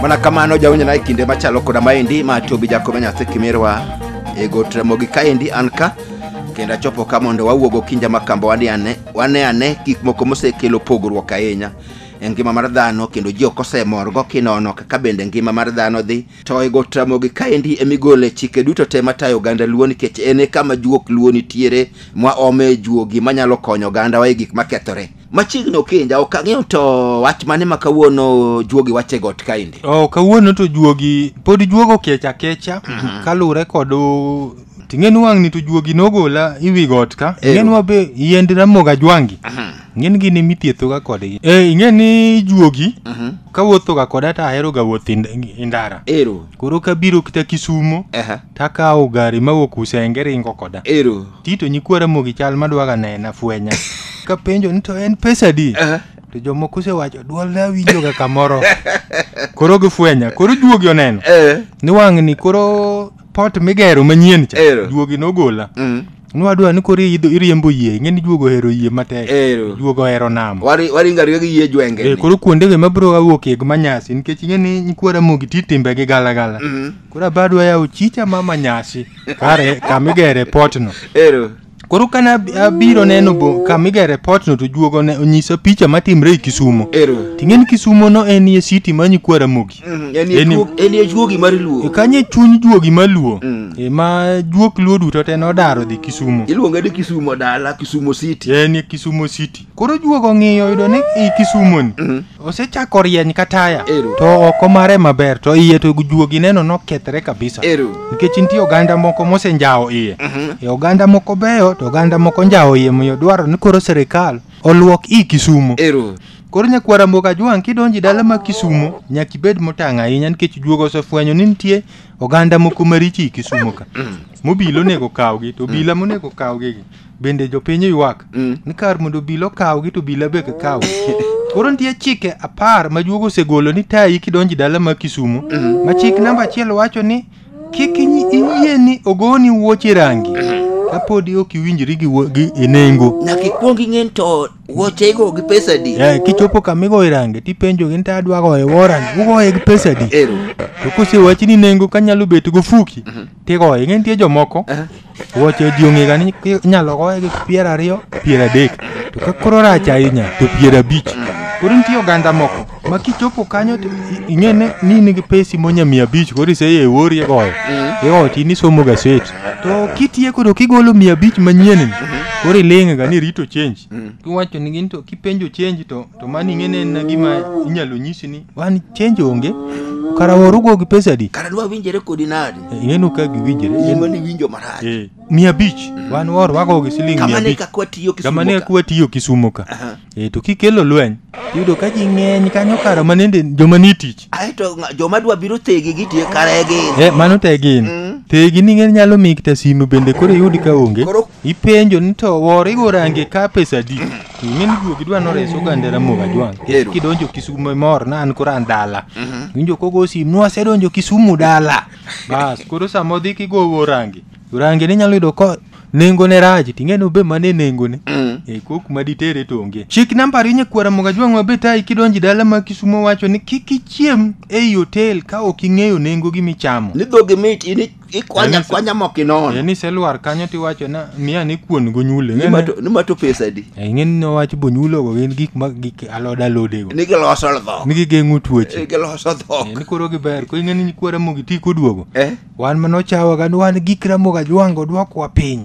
mana kamano jawinjo na e kinde machalo koda maendi ma tobi jakobe nyathi kimirwa e got ramogi kaendi an ka kendo achopo ka mondo wawuog okinja ma kamba wane ane wane ane gik moko mosekelo pogruok ahinya e ngima mar dhano kendo ji ok osemorgo kinono kaka bende ngima mar dhano dhi To e got Ramogi kaendi ema igole chike duto te matayo oganda Luo nikech en e kama juok Luo nitiere ma ome juogi manyalo konyo ogandawa e gik makethore. Machiegni okinja ok ang'eyo to wach mane ma kawuono juogi wach e got kaendi. Oh, kawuono to juogi pod juogo kech akecha kaluwore kod Ting'en wang'ni to juogi nogola i wi got ka. Ew. Ing'en wabe yiend ramoga jwangi. Ing'en gini mithiethoga kodgi. Eh, ing'en ni juogi kawuothoga koda to aheroga wuoth i nd- i ndara. Ero. Koro kabiro kata Kisumo Aha. takawo gari mawuok Usenge ringo koda. Ero. Tito nyikwa ramogi chal madwaga nena fwenya. Kapenjo ni to en pesa di? Aha. To jomoko osewacho dwol ne awinjoga kamoro. Koro gifwenya. Koro juogi oneno. Eh. Ni wang'ni koro pot migero manyien cha Ero. juogi nogola Mm. nwadwa ni koro idho- iriembo yie ing'e ni juogo ohero yie matek Ero. juogo ohero nam Wari- waringo ariyo gi yie jwenge Eh, ni. koro kuondego ema biro awuok ig manyasi nikech ing'e ni nyikwara mogi ti timbegi galagala Mhm. koro abadwa yawo chicha ma manyasi kare kamigere potno Ero. Koro kane ab- abiro neno bo- kama igere potno to juogo ne onyisa picha matimre e Kisumo. Ero. Ting'e ni Kisumo no en ye city ma nyikwa Ramogi. Mm, en ye En- juog- en ye juogi mar luo E kanyo e chuny juogi ma luo. Mm. E ma juok luo duto te nodaro dhi Kisumo. iluonge ni kisumo dala kisumo city En ye Kisumo city. Koro juogo ng'iyo oyudo ni i Kisumoni osechako rieny ka taya Ero. to oko mare maber to iye to juogi neno nokethre kabisa Ero. nikech nitie oganda moko mosenjawo iye e oganda moko beyo to oganda moko njawo iye miyo dwaro ni koro sirikal olwok i Kisumo Ero. koro nyakwara mboka jwang' kidonji dala ma Kisumo nyaka ibed motang' ahinya nikech juogo osefwenyo ni nitie oganda moko maricho i Kisumo ka mobila onego kawgi to obila monego kawgi gi bende jopiny ywak Mm. ni kar mondo obila okawgi to obila be kakaw koro nitie chike apar ma juogo osegolo ni tayi kidonji dala ma kisumo ma chik namba achiel wacho ni kik inyi- iyie ni ogoni wuoche rangi kapodi ok iwinjri gi wo- gi e nengo nyaka ikwong ing'en to wuoche igo gi pesa adi Eh, kichopo kamigoye range tipenjogi ni to adwa goye worange ugoye gi pesa adi ero to kosewachi ni nengo kanyalo bet gofuki tigoye ing'e nitie jomoko Wacho ji ong'ega ni ki- inyalo goye gi piero ariyo, piero adek. To ka koro rach ahinya to piero abich. Koro nitie oganda moko ma kichopo kanyo to i- ing'e ni- ni in gi pesi monya mia abich koro iseye iwori igoyo. Igoyo to in isomo gaset. To kitieko to kigolo mia abich manyien ni, koro iling'ga ni rito change. Kiwacho ni gin to kipenjo change to to mano ing'e ni en gima inyalo nyisi ni wan change onge. Kara warugo gi pesa adi? Kara dwa winjere kodi nadi? Ineno ka giwinjore. Yie mane winjo marach. Eh, mia abich. Mm. Wan wor wago gi siling mia abich. Kamane ka kwa tiyo Kisumo ka. Kamane kwa tiyo Kisumo ka. Uh -huh. Eh, to kikelo lweny. Tiyudo ka ji ng'eny kanyo kara manende joma ni tich. Ae to joma dwa biro thegi gi tiyo kare gin. Eh, mano te gin. Mm. Thegi ni ng'eny nyalo mik ta simu bende kore yudi ka onge. Koro. Ipenjo ni to wor igo range ka pesa di. Mm. min juogi dwa noreso oganda ramoga jwang Ero. kidonjo kisumu imor na an koro an dala winjo kogo sim nwasedonjo kisumu dala bas koro sama odhi kigowo orange orange ni nyalo yudo ko nengone raj ting'eni obe mane nengone Mm. e ko kuma ditere to onge chik namba rinye kwara moga jwang mabe tayi kidonji dala ma kisumo wacho ni kik ichiem ei hotel ka ok ing'eyo nengo gimichamo Ni dhogi mit in ikwanya Anyisa- kwanya mok inono yani selwar kanyo tiwacho na miya ni kuon go nyule Ni mato- ni mato pesa di ing'eni nowach bonyulo go gin gik ma gik alod alode go ni giloso dho ni gigeng'o tuoche giloso dhok ni koro giber ko ing'eni ni kwara mogi ti koduogo Eh? wan manochawa ga ni wan gik ramoga jwango dwokwa piny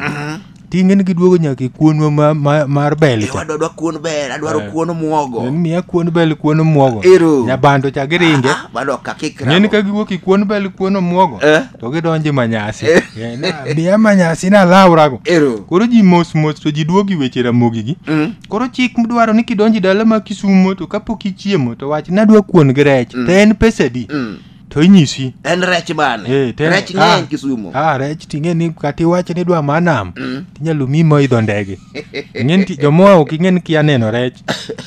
ting'en giduogo nyaka e kuonwa ma- ma- mar bel cha wadwa kuon bel adwaro Eh. kuon muogo En miya kuon bel kuon muogo Ero. nyabando cha giringe Ah, bado kakikra ng'eni ka giwuok i kuon bel kuon muogo Eh. to gidonjo i manyasi Eh. Eh, na- miya manyasi nalawrago Ero. koro ji mos mos to ji duogo i weche ramogigi Mm. koro chik dwaro ni kidonjo i dala ma kisumo to kapok ichiemo to wach nadwa kuon gi rech to en pesadi Mm. to inyisi en rech bane Eh, te- rech ah. ng'eny kisumo ah rech ting'e ni kata iwache ni dwa ma nam tinyalo mi ma idho ndege ing'eni ti- jomoa ok ing'eni kia neno rech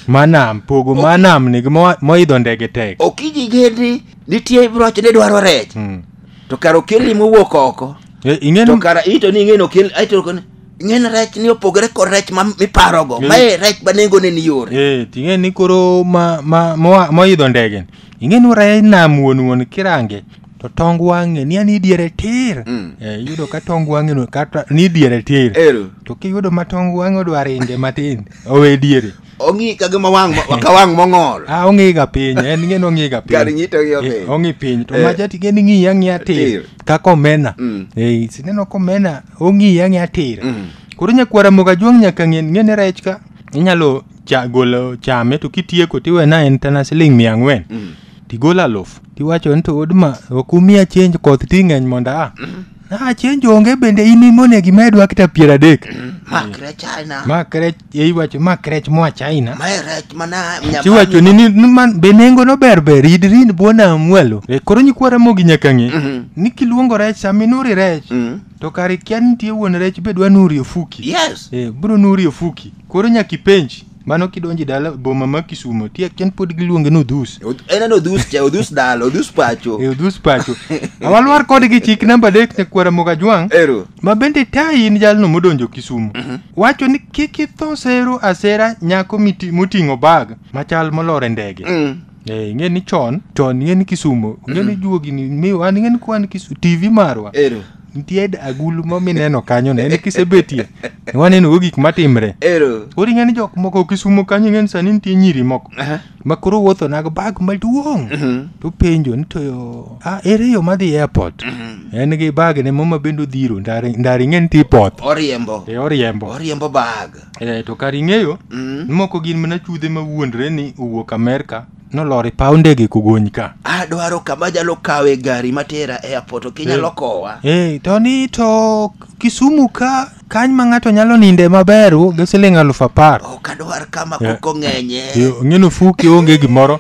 ma nam pogo ma nam ni gi moa- moidho ndege tek okiji gendi nitie roch ni dwaro rech Mm. to kara okelni mowuok oko Eh, to ing'eni kara ito ni ing'eni okel aito koni ing'eni rech ni opogore kod rech ma miparogo Eh. mae rech ma nengone ni yore eh, ting'eni koro ma- ma- moa- moidho ndege ing'e ni reye nam wuon wuon kirange to tong wang'e ni ani diere tir Mm. Eh, iyudo ka tong wang'e no kata ni diere tir Ero. to kiyudo ma tong wang'e odwa ringe matin owe diere Ong'i ka gima wang' mo- ka wang' mong'ol. a ong'iga piny en ng'e ni ong'iga piny Kar ng'i to ong'iyo Eh, piny. ong'i piny to Eh. ma jati ng'e ni ng'iyi ang'iya tir Tir. kaka omena Mm. Eh, sineno ka omena ong'iyi ang'iya tir Mm. koro nyakwara moga juang' nyaka ng'e ng'e ni rech ka inyalo cha golo chame to kitieko tiwe na en tana siling mia ang'wen mm. tigolo aluf tiwacho ni to odma ok umiya chenj koth ti ng'eny mondo a mm. na chenj onge bende in imone gima idwa kita piero adek mm. makre china makre iwacho makre moa china maerech mana tiwacho ni ni man be nengo no ber ber idrin buona mwalo e, koro nyikwara mogi nyaka ng'e mm-hmm. ni kiluongo rech saminuri rech mm. To kare kia nitie wuon rech be dwa nuri ofuki. Yes. Eh, bro nuri ofuki. Koro nyaka ipenji. Mano kidonji dala boma ma Kisumo, tie ken pod giluonge ni odhus. En en odhus cha, odhus dala, odhus pacho. E odhus pacho. Awalwar kod gi chik namba dek ne kwara moga jwang. Ero. Ma bende tayi in jalno modonjo Kisumo. Mm -hmm. Wacho ni kiki tho sero asera nyako miti mutingo bag machal molore ndege. Mm. Eh, ing'e ni chon chon ing'e ni kisumo ing'e ni juogi ni mi wan ing'e ni kwan kisu tv marwa Ero. nitie d- agulu ma mineno kanyo ne ni kisebetie waneno go gik matimre Ero. koro ing'e ni jok moko kisumo kanyo ing'e ni sani nitie nyiri moko Aha. ma koro wuotho nago bag maduong' Mhm. to penjo ni to yo ah, ere yo madhi e airport en gi bag ne moma bende odhiro ndari ndari ing'e ni tipoth Oriembo. e oriembo Oriembo bag. Eh, to kar ing'eyo Mm. moko gin mana chudhe ma wuondre ni owuok amerka nolor e paw ndege kogony ka adwaro kama jalo kawe gari matera e airport ok inyalo kowa Eh, to ni to kisumu ka kany ma ng'ato nyalo ninde maber wo- gi siling alufu apar ok adwar kama Yeah. koko ng'enye Yo, ng'eno fuki onge gimoro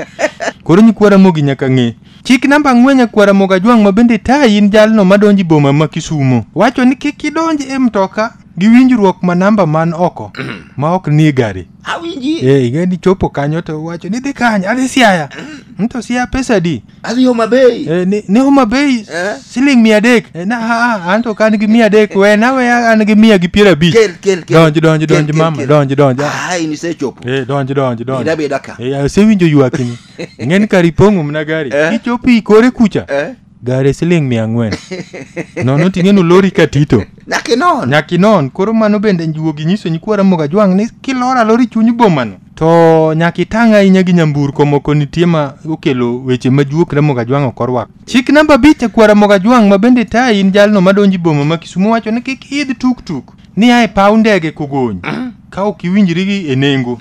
koro nyikwara mogi nyaka ng'e chik namba ang'wen nyakwara moga jwang' ma bende tayi in jalno madonji boma ma kisumo wacho ni kik idonj e mtoka gi winjruok ma namba man oko ma ok ni gari Awinji. eh ing'e ni chopo kanyo to wacho ni dhi kany adhi siaya Mm, to siaya pesa di Adhi Homa Bay. Eh, ni, ni Homa Bay Eh? siling mia adek Eh, na ha, ha, an to ka an gi mia adek we na we an gi mia gi piero abich Kel kel kel. donj donj Kel, donj kel, mama kel. donj donj ah, Ai nisechopo. eh, donj donj donj Beda beda ka. Eh, asewinjo ywakni ing'e ni kar ipong'o mna gari Eh? ichopo ikore kucha Eh? gare siling mia ang'wen nono ting'enu lori ka tito nyaka inon nyaka inon koro mano bende juogi nyiso nyikwa ramoga jwang' ni kilor alori chuny bomano to nyaka itang' ahinya gi nyamburko moko nitie ma okelo weche ma juok ramoga jwang' ok orwako chik namba abich e kwa ramoga jwang' ma bende tayi in jalno madonjo i boma ma kisumo wacho ni kik iidh tuktuk Ni a e paw ndege kogony. Ka ok iwinjri gi e nengo.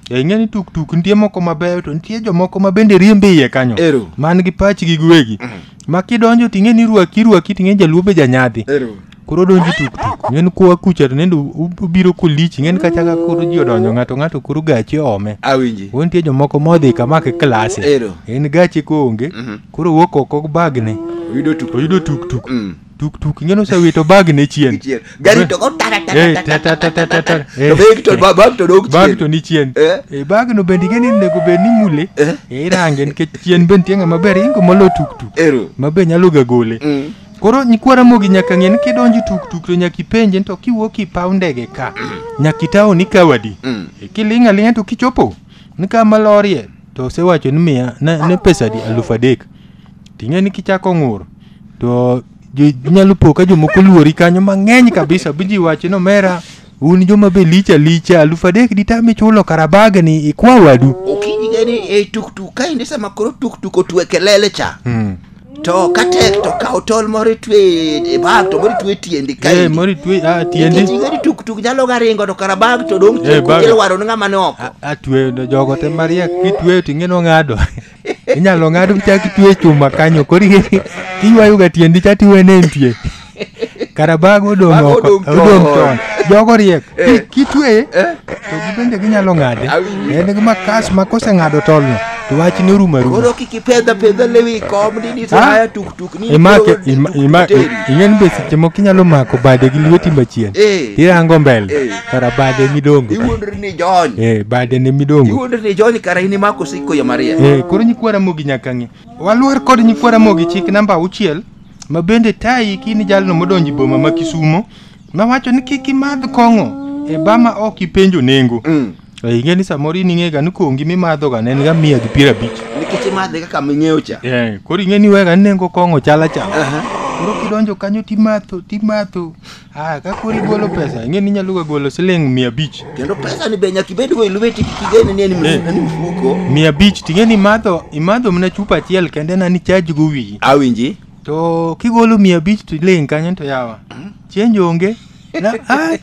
E ing'e ni tuk tuk nitie moko mabeyo to nitie jomoko ma bende riembe iye kanyo. Ero. Man gi pachgi giwegi. Ma kidonjo ting'e ni rwaki rwaki ting'e jaluo be janyadhi. Ero. Koro donji tuk tuk. Ng'en kwa kucha to nende u- ubiro kulich. Ng'en kacha ka koro ji odonjo ng'ato ng'ato koro gachi ome. Awinji. Wuon nitie jomoko modhi kama ke klase. Ero. En gachi koonge. Koro wuok oko gi bagne. Oyudo tuk. Oyudo tuk tuk. Mm. tuk tuk ing'e nosewito bag ne chien Gichien. Gari to go tara tara Eh, tara ta- ta- ta- ta- ta- ta. Eh, To bag to- ba- bag to dog bag chien. to ni chien Eh. Eh, bag no bende ing'e ni nego bed ni mule Eh. Eh, irange nikech chien be nitie ng'a maber ingo malo tuk tuk Ero. mabe nyalo ga gole Mm. koro nyikwa ramogi nyaka ng'e ni kidonjo tuk tuk to nyaka ipenje ni to kiwuok ipaw ndege ka nyaka itawo ni kawadi Mm. E, kiling' aling'a to kichopo ni kama lorie to osewacho ni miya na, ne pesadi alufu adek Ting'e ni kichako ng'ur to ji nyalo po ka jomoko luori kanyo mang'eny kabisa bi ji wacho ni omera un joma be licha licha alufu adek ditami chulo karabage ni ikwa wadu. okinyi gani e tuktuk ka inde sama koro tuktuk otwe kelele cha Hmm. to ka tek to kawo tol moro itwe e bag to moro itwe e tiendi ka Eh, indi. mori twe ah, Nikech tiendi ing'e ni tuktuk nyalo ga ringo to kara bag to dong' Eh, bag. tielo waro ni ng'ama ni oko atweyo jogo te mariek kitweyo ting'e nong'ado. inyalo ng'ad chak itwe e chuma kanyo koro i- iywayoga tiendi cha tiwene entie kara bag odong' Bag oko odong' odong' chon. chon jogo riek Ki- kitweye to gibende ginyalo ng'ade Awinji. en gi makas ma koseng'ado tolno to wachni orumo aruma Koro kikipedha pedha lewi kom ni ni to Ah. haya tuk imake ima- ima- ing'e ni be seche moko inyalo mako bade gi lweti machien Eh. tirango mbele Eh. kara bade midongo iwuondri ni jony Eh, bade ne midongo iwuondri ni jony kara in imako siko ya maria Eh, koro nyikwa ramogi nyaka ng'e waluor kod nyikwa ramogi chik namba auchiel ma bende tayi kini jalno modonjo e boma ma kisumo mawacho ni kik imadh kong'o e bama ok ipenjo nengo Mm. Eh, ing'e ni samoro in ing'ega ni kongi mimadhoga ne en ga mia gi piero abich nikech imadhe kaka ming'eyo cha Eh, koro ing'e ni wega ni nengo kong'o chal achal Aha. koro kidonjo kanyo timatho timatho ah, ka koro igolo pesa ing'e ni inyalo ga golo siling' mia abich kendo pesa ni be nyaka ibedgo e lweti kik igene ni en mf- en mfuko mia abich ting'e ni imadho imadho mana chupa achiel kende na ni chaji go wiyi awinji to kigolo mia abich to iling' kanyo to yawa chenj onge na, ah,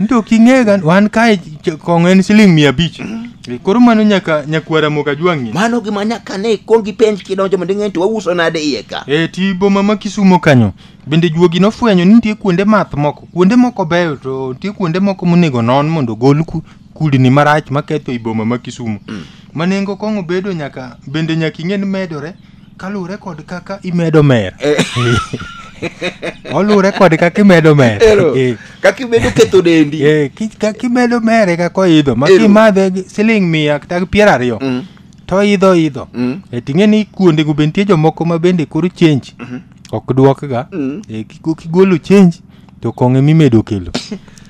Nto ok ing'ega wan kae ch- kong'o en siling mia abich. Eh, Koro mano nyaka nyakwara moka jwang'e. Mano gima nyaka ne ikwong ipenj kidonjo mondo ing'e ni to wauso nade iye ka. E ti boma ma Kisumo kanyo. Bende juogi nofwenyo ni nitie kuonde math moko. Kuonde moko beyo to nitie kuonde moko monego non mondo gol ku- kudni marach maketho i boma ma Kisumo. Ma nengo kong'o bedo nyaka bende nyaka ing'e ni medore. kaluwore kod kaka imedo mer oluwre kod kaka imedo mer Ero. Eh, kaka imedo ketho dendi eh, ki- kaka imedo mer e kaka oidho ma Ero. kimadhe gi siling mia kata gi piero ariyo Mm, to idho idho mm, e ting'e ni kuondego be nitie jomoko ma bende koro change Mhm. ok duokga mm. e, kiko- kigolo change to kong'e mimedo kelo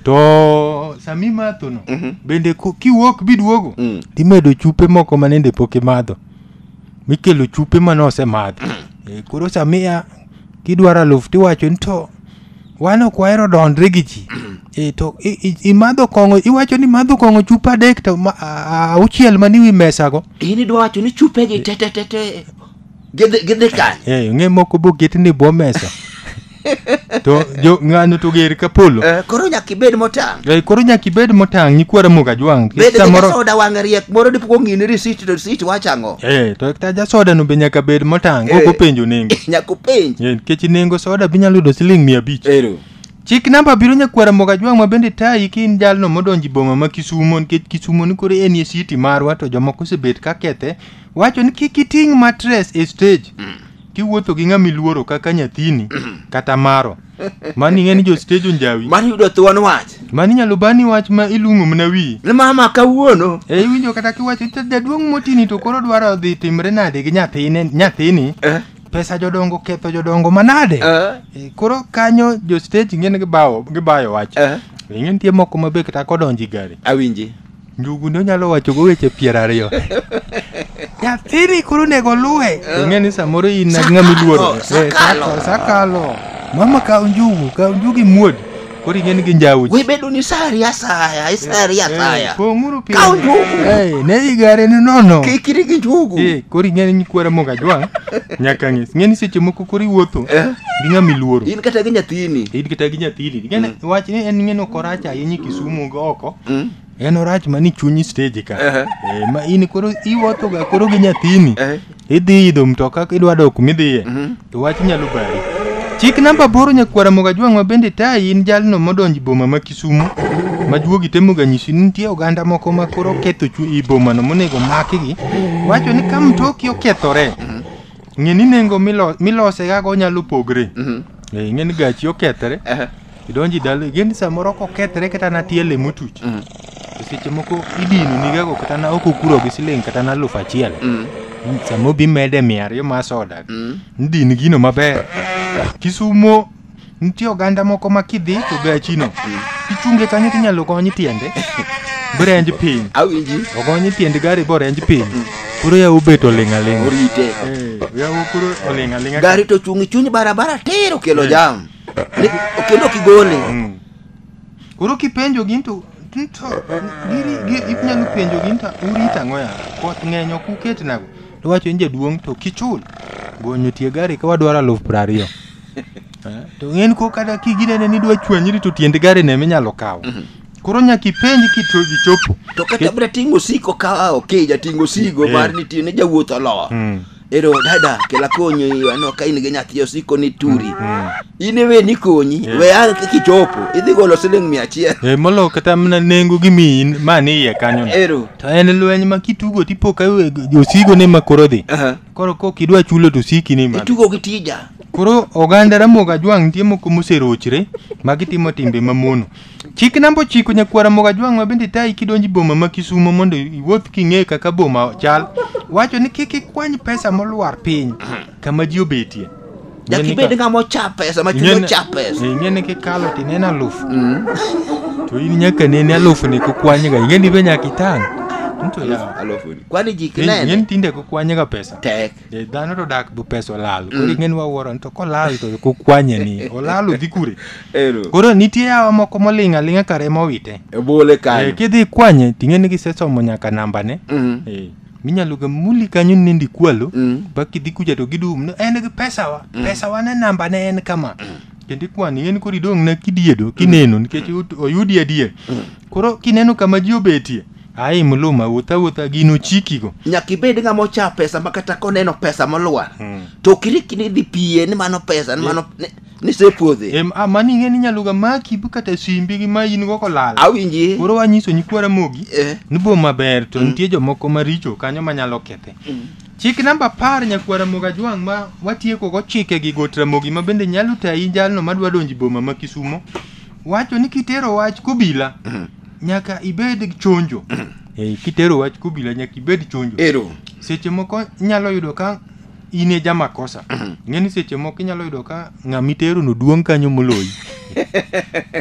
to sami mathono Mhm. bende ko- kiwuok biduogo Mm. timedo chupe moko ma nende pok imadho mikelo chupe mane osemadhi Eh, koro samia kidwaro aluf tiwacho ni to wan ok wahero dondre gi ji Eh, to i- i- imadho kong'o iwacho ni imadho kong'o chupa adek to ma- a- a- auchiel mani wi mesago in idwa wacho ni chupegi tetetete gidhi gidhi kanye Eh, ng'e moko boket ni bwo mesa to jo ng'anyo to ger ka polo Eh, koro nyaka ibed motang' Eh, koro nyaka ibed motang' nyikwa ramoga jwang' bed nikech samoro soda wang'e riek moro dipo kong'ini risit to risit wacho ang'o Eh, to kata ja soda no be nyaka bed motang' Eh. ok openjo nengo nyaka openj Eh, nikech nengo soda binyalo yudo siling mia abich ero chik namba biro nyakwara moga jwang' ma bende tayi ka in jalno modonji boma ma kisumo nikech kisumo ni koro en e city marwa to jomoko osebet ka kethe wacho ni kik iting' matres e stage kiwuotho gi ng'ama iluoro kaka nyathini kata maro mani ng'e ni jostejo njawi mani yudo thuon wach mani nyalo bani wach ma ilung'o mna wiyi ni mama kawuono e iwinjo kata kiwacho "Ja- jaduong' motini to koro dwaro dhi timre nade gi nyathine nyathini Eh, pesa jodongo ketho jodongo manade eh, E, koro kanyo josteji ng'en gibawo gibayo wach eh. ing'e nitie moko ma be kata kodonji gari awinji Njugu ne onyalo wacho go weche piero ariyo. Nyathini koro onego luwe. Ong'e ni samoro in na ng'ama iluoro. Eh, sako- Sakalo. Mama kaw njugu, kaw njugu imuod. Koro ing'e ni gin jauchi. Webedo ni sari asaya, isari asaya. Pong'uru piny. Kaw njugu. Eh, ne igare ni nono. Kik iri gi njugu. Eh, koro ing'e ni nyikwara moga jwang'. Nyaka ng'e. Ing'e ni seche moko koro iwuotho. Gi ng'ama iluoro. In kata gi nyathini. In kata gi nyathini. Ing'e ni wach ni en ing'e ni ok orach ahinya e Kisumu go oko. Mm. en orach mani chunyi stage ka Ehe. Eh, ma in koro iwuotho ga koro gi nyathini Ehe. idhi idho mtoka idwa dok midhiye Mhm. to wach nyalo bari chik namba boro nyakwara moga jwang'wa bende tayi in jalno modonji boma ma kisumu ma juogi temoga nyisi ni nitie oganda moko ma koro ketho chu i bomano monego makigi wacho ni ka mtoki okethore ng'e ni nengo milo- milosegago nyalo pogre Mhm. Eh, ing'e ni gachi okethore Ehe. idonji dala gini samoro kokethre kata na tiele motuch mm. to seche moko idino nigago kata na ok okuro gi siling kata na aluf achiel mm. samo bi mede mia ariyo ma soda mm. ndin gino maber kisumo nitie oganda moko ma kidhi to be achino mm. ichunge kanyo tinyalo gonyi tiende borenj piny awinji ogonyi tiend gari borenj piny mm. koro yaw obet oling'aling'a orite eh, yaw koro oling'aling'a gari to chung' chuny barabara tir okelo eh. jam Ni- kendo ok igole koro kipenjo gin to gin to giri gi- inyalo penjo gin to urita ang'o ya koth ng'eny ok uket nago to wacho ni jaduong' to kichul gonyo tie gari ka wadwaro aluf piero ariyo Eh, to ng'en ko kata kiginene ni dwa chwanyri to tiend gari ne minyalo kawo koro nyaka ipenj kito gichopo to kata bra ting'o siko ka okija ting'o sigo Eh. mar ni tiene jawuoth olor Mm. ero dada kela konyo i ano ka in gi nyathi osiko ni turi in iwe ni konyi we a kichopo idhi golo siling mia achiel Eh, molo kata mana nengo gimiyi ma ni iye kanyo no. ero to en lweny ma kitugo tipo ka we- josigo ne ma koro dhi Aha. koro kok idwa chulo to siki ni ma itugo gi tija koro oganda ramoga jwang' nitie moko moserochre ma gitimo timbe mamono Chik namba ochiko nyakwar Ramogi Ajwang'wa bende tayi kidonjo e boma ma Kisumo mondo iwuoth king'e kaka boma chal. Wacho ni kik ikwany pesa molwar piny kama ji obetie. Nyaka ibed ng'ama ocha pesa ma chunye ocha pesa. Ing'e ni kikalo to ineno aluf. To in nyaka nene aluf ni kukwanyga. Ing'e ni be nyaka itang'. Mtu yawa. Alofuni. Kwani ji Ing'e kinene ni tinde kukwanyga pesa. tek. Eh, dhano to dak bu pesa olal koro ing'eni wawuoro ni to kolal to kukwanye ni olal odhi kure Ero. koro nitie yawa moko moling' aling'a kare ema owite E bole Eh, kanyo. kidhi ikwanye ting'eni gisesomo nyaka nambane Mhm. Eh, minyalo ga muli kanyo ni nindi kwalo Mhm. ba kidhi kucha to gidum ni en gi pesawa pesawa ne nambane en kama kendo ikwani en koro idong' na kidiedo kineno nikech ut- oyudi adier koro kineno kama ji obetie Ai mluma wuotha wuotha gino chikigo. Nyaka ibed ng'ama ocha pesa ma kata koneno pesa molwar. Hmm. To ok iriki ni dhi piye ni mano pesa ni mano ni- ni sepuodhe. Em a mani ing'e ni nyaloga maki bu kata simbi gi ma in go kolal. Awinji. Koro wanyiso nyikwa Ramogi Eh. ni bo maber to nitie jomoko maricho kanyo manyalo kethe. Chik namba apar nyakwar Ramogi Ajwang' ma watieko go chike gi got Ramogi ma bende nyalo tayi jalno madwa donjo e boma ma Kisumo wacho ni kitero wach kobila nyaka ibed chonjo e, kitero wach kobila nyaka ibed chonjo ero seche moko inyalo yudo ka in e jamakosa ing'e ni seche moko inyalo yudo ka ng'ama iterono duong' kanyo moloyi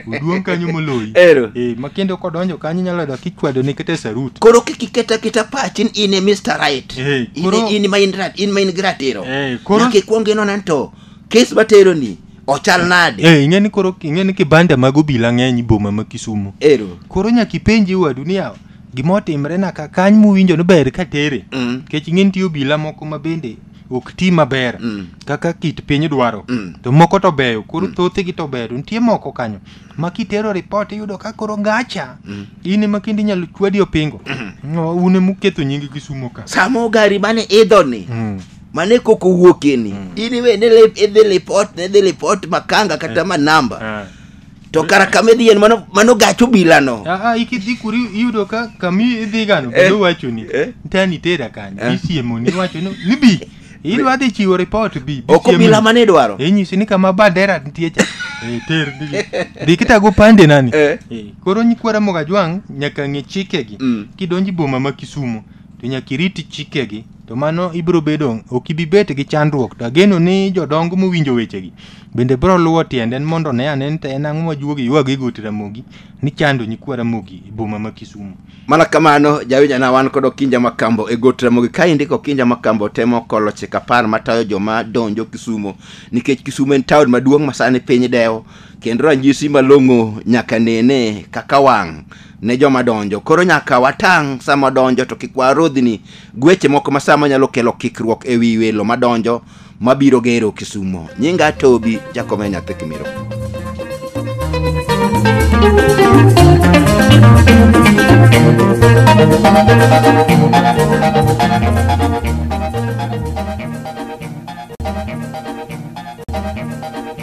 oduong' kanyo moloyi Ero. e, ma kendo kodonjo kanyo inyalo yudo kichwadone kata e sarut koro kik iket aketa pachi ni in e mr right Eh, In- koro- in ma in rat- in ma in gi ratiro Eh, koro- nyaka ikwong inone ni to kes materoni ochal nade Eh, ing'e ni koro ing'e ni kibanda mag obila ng'eny boma ma kisumo ero koro nyaka ipenji wadu ni yawa gima otimre na ka kany muwinjo ni ber ka tere Mm. nikech ing'e nitie obila moko ma bende ok ti maber Mm. kaka kit piny dwaro Mm. to moko to beyo koro thothegi to beyo to nitie moko kanyo ma kitero ripot iyudo ka koro gacha in ema kendo inyalo chwadi opingo No, un emuketho nyingi kisumo ka samo gari mane idho ni Mm. mane koko wuokeni mm. in iwe ne lip, idhi lipot ne idhi lipot makanga kata eh. manamba eh. to kara kama idhi en mano, mano gach obila no ah, ah, ikidhi kuri iyudo ka kama idhi gano eh. bedo wachoni eh. ntani tera kanyo eh. isiemoni iwachono ni bi idwa dhi chiwo ripot bi ok obila mane idwaro inyisi ni kama bandera nitie cha eh, ter dhi kitago pande nani eh. Eh, koro nyikwara mogajwang' nyaka ng'e chikegi mm. kidonji boma ma kisumo to nyaka iriti chikegi to mano ibiro bedo ok ibi bet gi chandruok to ageno ni jodongo mowinjo wechegi bende biro luwo tiende mondo ne ane ni en ang'o majuogi ywagi goti ramogi ni chando nyikwa ramogi e boma ma kisumu mana kamano jawinyana wan kod okinja makambo e got ramogi ka indiko okinja makambo temo kolo chik apar matayo joma donjo kisumo nikech kisumo en taon maduong' masani piny dewo kendo ranyisi malong'o nyaka nene kaka wang' ne joma donjo koro nyaka watang' sama donjo to kik warodhni gweche moko ma sama nyalo kelo kikruok e wi welo madonjo mabiro gero kisumo nyinga tobi jakome nyathi kimiro